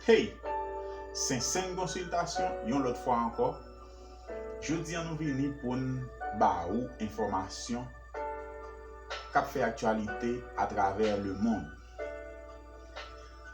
Hey! Sentseng Konsiltasyon yon lòt fwa ankò, jodi an nou vini pou n ba ou enfòmasyon k ap fè aktyalite atravè lemond.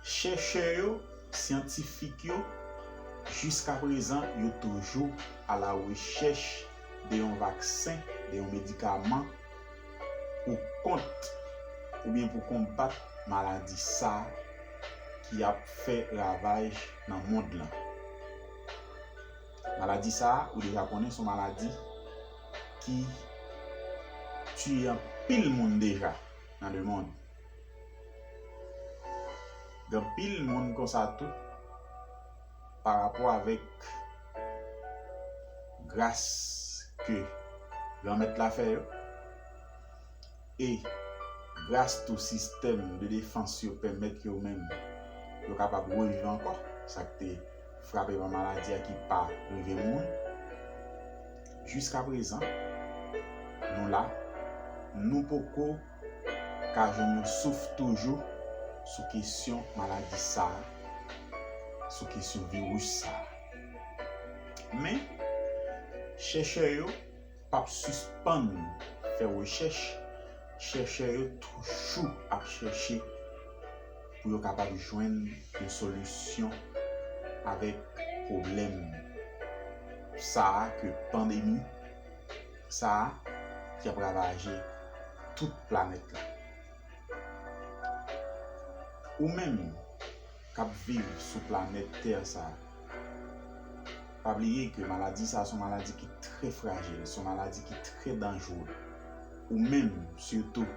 Chèchè yo, syantifik yo, jiskaprezan yo toujou alarechèch de yon vaksen, de yon medikaman, pou kont oubyen pou konbat maladi sa ki ap fè ravaj nan mond lan. Maladi sa ou deja konnen son maladi ki tiye anpil moun deja nan le mond. Gen anpil moun konsa tou. pa rapò avèk gras ke Granmèt la fè yo, e gras tou sistèm de defans yo pèmèt yo menm yo kapab reviv ankò, sa k te frape pa maladi a ki pa rive mouri. Jiskaprezan, nou la, nou poko. ka jwenn yon souf toujou sou kesyon maladi sa, sou kesyon viris sa. Men, chèchè yo p ap sispann fè rechèch, chèchè yo toujou ap chèche pou yo kapab jwenn yon solisyon avèk pwoblèm sa ke pandemi. sa a ki ap ravaje tout planèt la. Ou menm k ap viv sou planèt tè sa a, pa bliye ke maladi sa a se yon maladi ki trè frajil, se yon maladi ki trè danjre. Ou menm sitou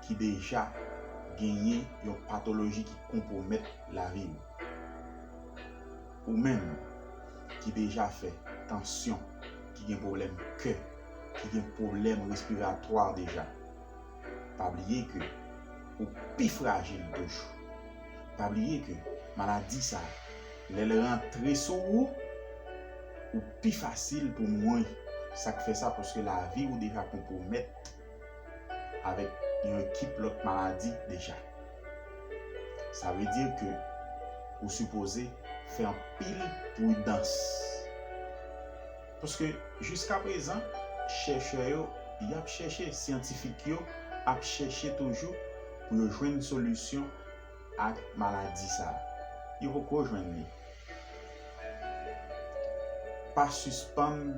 ki deja genyen yon patoloji ki konpwomèt lavi ou. Ou menm ki deja fè tansyon, ki gen pwoblèm kè, ki gen pwoblèm respiratwa deja, pa bliye ke ou pi frajil toujou. Pa bliye ke maladi sa, lè l rantre sou ou, ou pi fasil pou mouri. Sa k fè sa? Paske lavi ou deja konpwomèt. avèk yon ekip lòt maladi deja. Sa vle di ke ou sipoze fè anpil pridans. Paske jiska prezan chèchè yo y ap chèche, syantifik yo ap chèche toujou pou yo jwenn solisyon ak maladi sa. Yo poko jwenn li. Pa sispann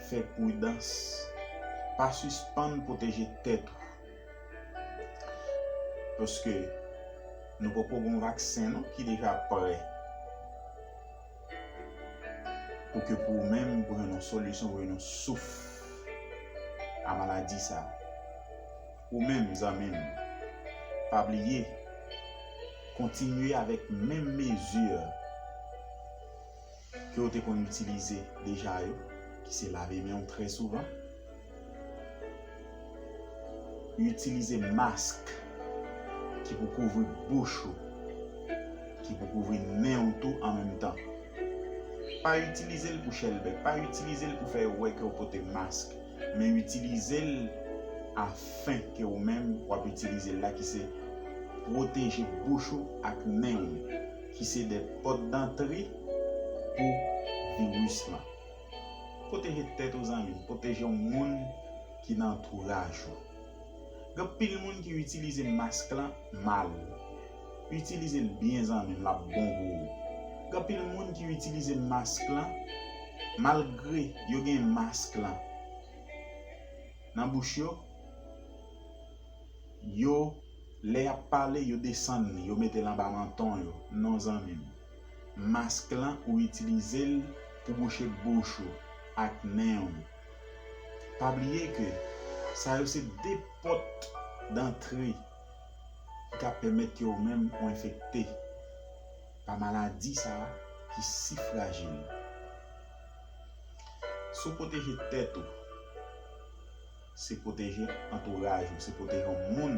Fè pridans. Pa sispann pwoteje tèt ou. Paske nou poko gon vaksen non ki deja prè. Pou ke pou ou menm pou jwenn yon solisyon pou jwenn yon souf a maladi sa. Ou menm zanmi m. Pa bliye. Kontinye avèk menm mezi. ke ou te konn itilize deja yo, ki se lave men ou trè souvan, itilize mask ki pou kouvri bouch ou, ki pou kouvri nen ou tou an menm tan. Pa itilize l pou chèlbè, pa itilize l pou fè yo wè ke ou pote mask, men itilize l afin ke ou menm wap itilize l la ki se pwoteje bouch ou ak nen ou. ki se de pòt dantre pou viris lan. Pwoteje tèt ou zanmi m, pwoteje yon moun ki nan antouraj ou. Gen anpil moun ki itilize mask lan mal. Itilize l byen zanmi m lap bon pou ou. Gen anpil moun ki itilize mask lan malgre yo gen mask lan nan bouch yo. yo lè yap pale yo desann li yo metel anba manton yo non zanmim mask lan ou itilizel pou bouche bouch ou ak nen ou pa bliye ke sa yo se 2 pòt dantre ki ka pèmèt ke ou menm ou enfekte pa maladi sa ki si frajil si w pwoteje tèt ou. Se pwoteje antouraj ou, se pwoteje yon moun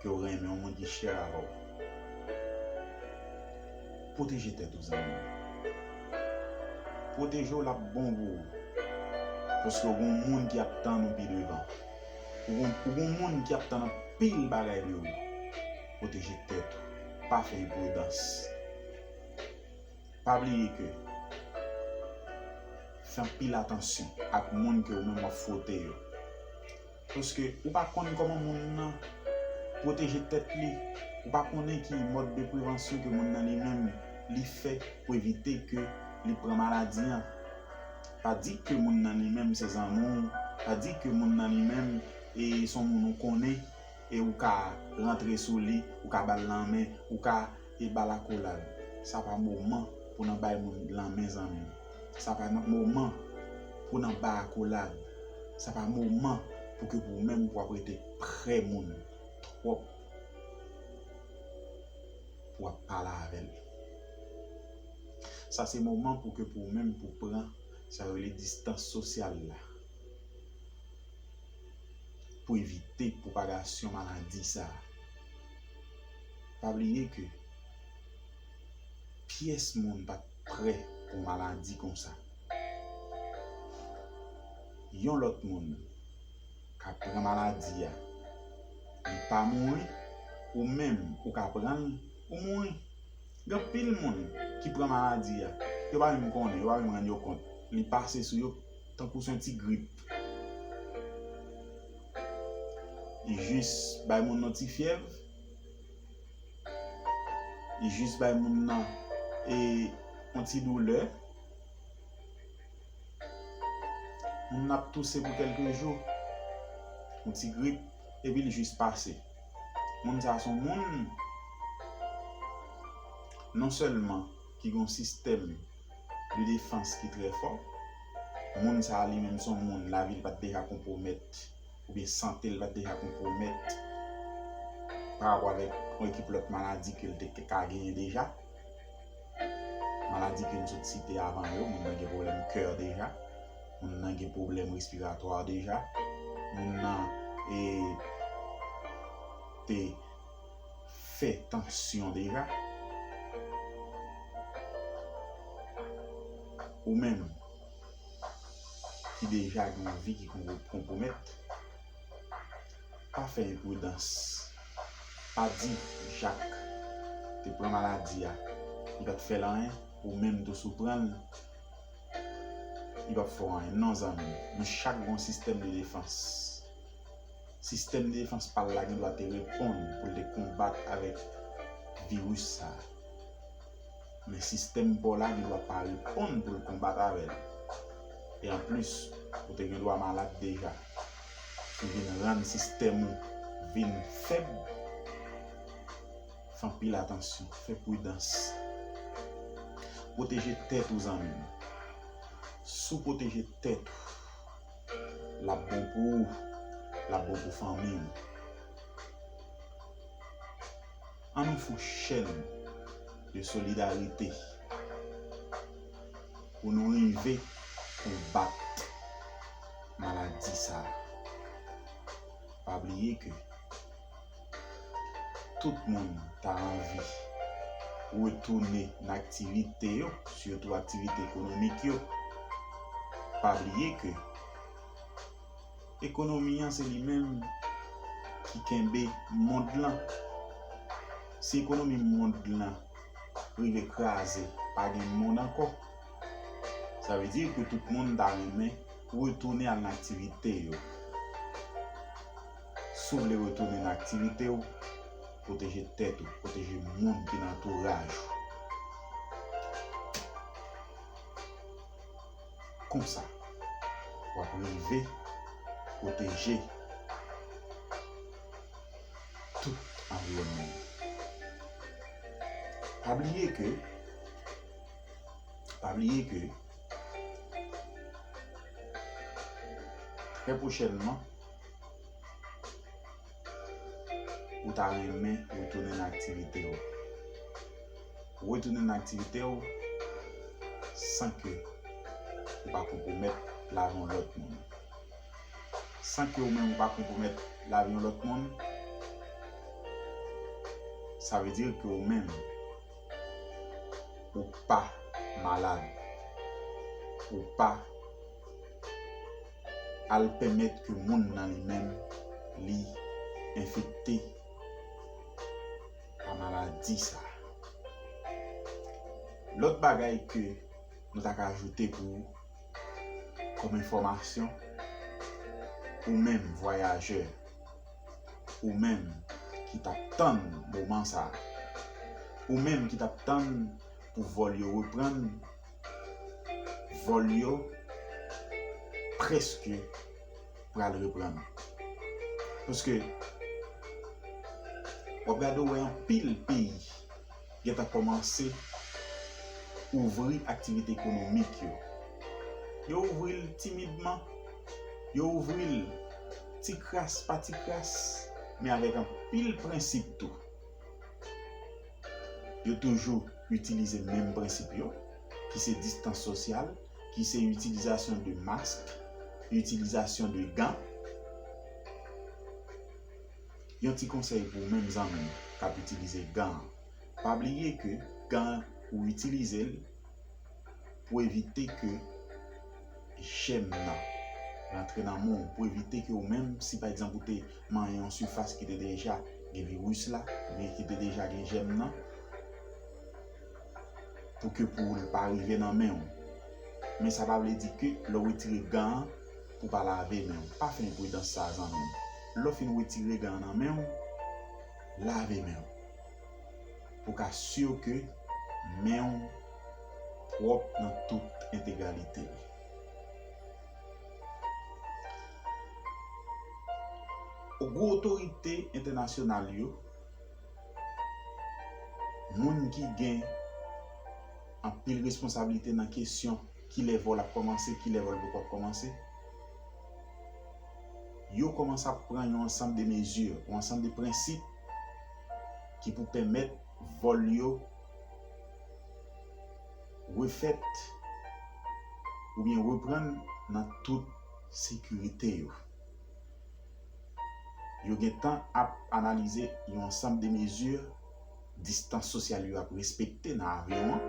ke w renmen, yon moun ki chè avè w. Pwoteje tèt ou zanmi m. Pwoteje w l ap bon pou ou. Paske ou gen yon moun ki ap tann ou pi devan. Ou gen yon moun ki ap tann anpil bagay de ou. Pwoteje tèt ou. Pa fè enpridans. Pa bliye ke fè anpil atansyon ak moun ke ou menm wap fwote yo. Paske ou pa konn koman moun nan pwoteje tèt li, ou pa konnen ki mòd de prevansyon ke moun nan li menm li fè pou evite ke li pran maladi an. Pa di ke moun nan li menm se zanmi w, pa di ke moun nan li menm e son moun ou konnen e ou ka rantre sou li, ou ka bal lanmen, ou ka E bal akolad. Sa pa moman pou nan bay moun lanmen zanmi. Sa pa nan moman pou nan ba akolad. Sa pa moman pou ke pou ou menm pou ap rete pre moun twòp pou ap pale avèl. Sa se moman pou ke pou ou menm pou pran sa yo rele distans sosyal la. Pou evite pwopagasyon maladi sa. Pa bliye ke pyès moun pat prè pou yon maladi konsa. Yon lòt moun ka pran maladi a li pa mouri ou menm ou ka pran l ou mouri. Gen anpil moun ki pran maladi a yo pa menm konnen, yo pa menm rann yo kont li pase sou yo tankou se yon ti grip. Li jis bay moun yon ti fyèv. Li jis bay moun nan e yon ti doulè. Moun nan ap touse pou kelke jou. Yon ti grip epi li jis pase. Moun sa son moun non selman ki gon sistèm de defans ki trè fò. Moun sa li menm son moun lavi li pat deja konpwomèt. oubyen sante l pa t deja konpwomèt parapò avèk yon ekip lòt maladi ke l te ka genyen deja. Maladi ke nou sot site avan yo, moun nan gen pwoblèm kè deja, moun nan gen pwoblèm respiratwa deja, moun nan te fè tansyon deja. Ou menm. ki deja gen yon vi ki konpwomèt, pa fè enpridans, pa di Jak te pran maladi a, li pa t fè l anyen, ou menm tou si w pran l, li p ap fè w anyen. Non zanmi m, nou chak gen yon sistèm de defans. Sistèm de defans pa l la gen dwa te reponn pou l te konbat avèk viris sa a. Men sistèm pa w la gen dwa pa reponn pou l konbat avè l. E anplis, ou te gen dwa malad deja. Ki vin rann sistèm ou vin fèb. Fè anpil atansyon, fè pridans. Pwoteje tèt ou zanmi m. Si w pwoteje tèt ou, l ap bon pou ou, l ap bon pou fanmi ou. Ann fou chèn de solidarite pou nou rive konbat maladi sa. Pa bliye ke tout moun ta anvi retounen nan aktivite yo, sitou aktivite ekonomik yo. Pa bliye ke. Ekonomi an se li menm ki kenbe mond lan. Si ekonomi mond lan rive kraze, pa gen mond ankò. Sa vle di ke tout moun ta renmen retounen al nan aktivite yo. Si w vle retounen nan aktivite w, pwoteje tèt ou, pwoteje moun ki nan antouraj ou. Konsa, w ap rive pwoteje tout anviwònman w. Pa bliye ke, pa bliye ke, trè pwochènman, ou ta renmen retounen nan aktivite ou. Retounen nan aktivite ou san ke ou pa konpwomèt lavi yon lòt moun. San ke ou menm ou pa konpwomèt lavi yon lòt moun, sa vle di ke ou menm ou pa malad, ou pa. Al pèmèt ke moun nan li menm li enfekte pa maladi sa. Lòt bagay ke nou ta ka ajoute pou ou kòm enfòmasyon, ou menm vwayajè, ou menm ki t ap tann moman sa, ou menm ki t ap tann pou vòl yo reprann, Vòl yo preske pral reprann. Paske wap gade ou wè anpil peyi gentan kòmanse ouvri aktivite ekonomik yo. Yo ouvri l timidman, yo ouvri l ti kras pa ti kras men avèk anpil prensip tou. Yo toujou. itilize menm prensip yo, ki se distans sosyal, ki se itilizasyon de mask, itilizasyon de gan. Yon ti konsèy pou ou menm zanmi m k ap itilize gan an, pa bliye ke gan an ou itilize l pou evite ke. jèm nan rantre nan men w pou evite ke ou menm si pa egzanp ou te manyen yon sifas ki te deja gen viris la oubyen ki te deja gen jèm nan pou ke pou l pa rive nan men w men sa pa vle di ke lè w retire gan an pou pa lave men w pa fè enpridans sa zanmi m lè w fin retire gan an nan men w lave men w. Pou ka sur ke menw pwòp nan tout entegralite li. Gwo otorite entènasyonal yo, moun ki gen anpil responsablite nan kesyon kilè vòl ap kòmanse, kilè vòl poko ap kòmanse, yo kòmanse ap pran yon ansanm de mezi, yon ansanm de prensip ki pou pèmèt vòl yo refèt oubyen reprann nan tout sekirite yo. Yo gen tan ap analize yon ansanm de mezi distans sosyal yo ap respekte nan avyon an.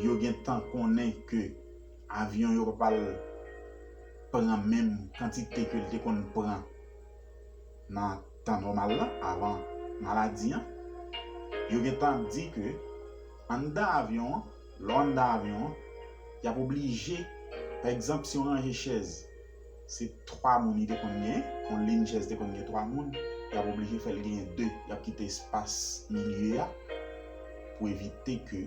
Yo gen tan konnen ke avyon yo pa pral pran menm kantite ke li te konn pran nan tan nòmal la avan maladi an, yo gentan di ke anndan avyon an, lè w anndan avyon an, y ap oblije, pa egzanp, si yon ranje chèz se 3 moun li te konn gen, yon lin chèz te konn gen 3 moun, y ap oblije fè l genyen 2, y ap kite espas milye a pou evite ke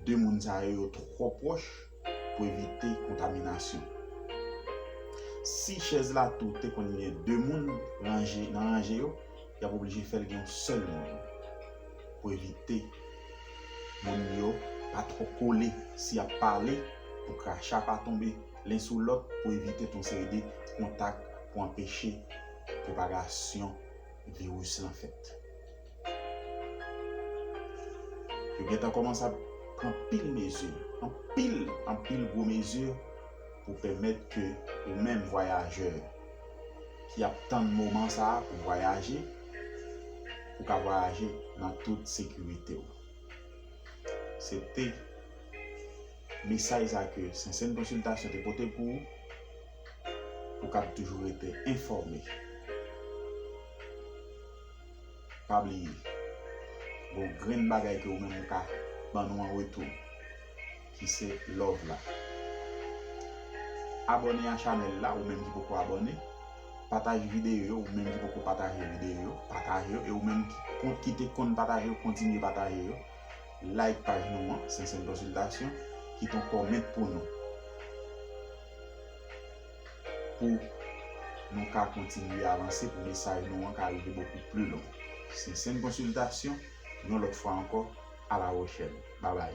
2 moun sa yo yo twò pwòch. pou evite kontaminasyon. Si chèz la tou te konn gen 2 moun ranje nan ranje yo, y ap oblije fè l gen yon sèl moun pou evite moun yo pa twò kole si y ap pale pou kracha pa tonbe len sou lòt pou evite tout yon seri de kontak pou anpeche pwopagasyon viris lan fèt. Yo gen tan kòmanse ap pran pil mezi, anpil, anpil gwo mezi pou pèmèt ke ou menm vwayajè ki ap tann moman sa a pou vwayaje, ou ka vwayaje nan tout sekirite ou. Se te mesaj sa ke Sentsèn Konsiltasyon te pote pou ou, pou w kab toujou rete enfòme. Pa bliye. Gon grenn bagay ke ou menm ou ka ban nou an retou. Ki se love la. Abone a chanel la ou menm ki poko abone. Pataje video yo ou menm ki poko pataje video yo. Pataje yo e ou menm ki te konn pataje yo kontinye pataje yo. Like paj nou an, Sentsèn Konsiltasyon. Kite yon comment pou nou. pou nou ka kontinye avanse, pou mesaj nou an ka rive bokou pli lwen. Se Sèn Konsiltasyon, yon lòt fwa ankò, alawochèn. Babay.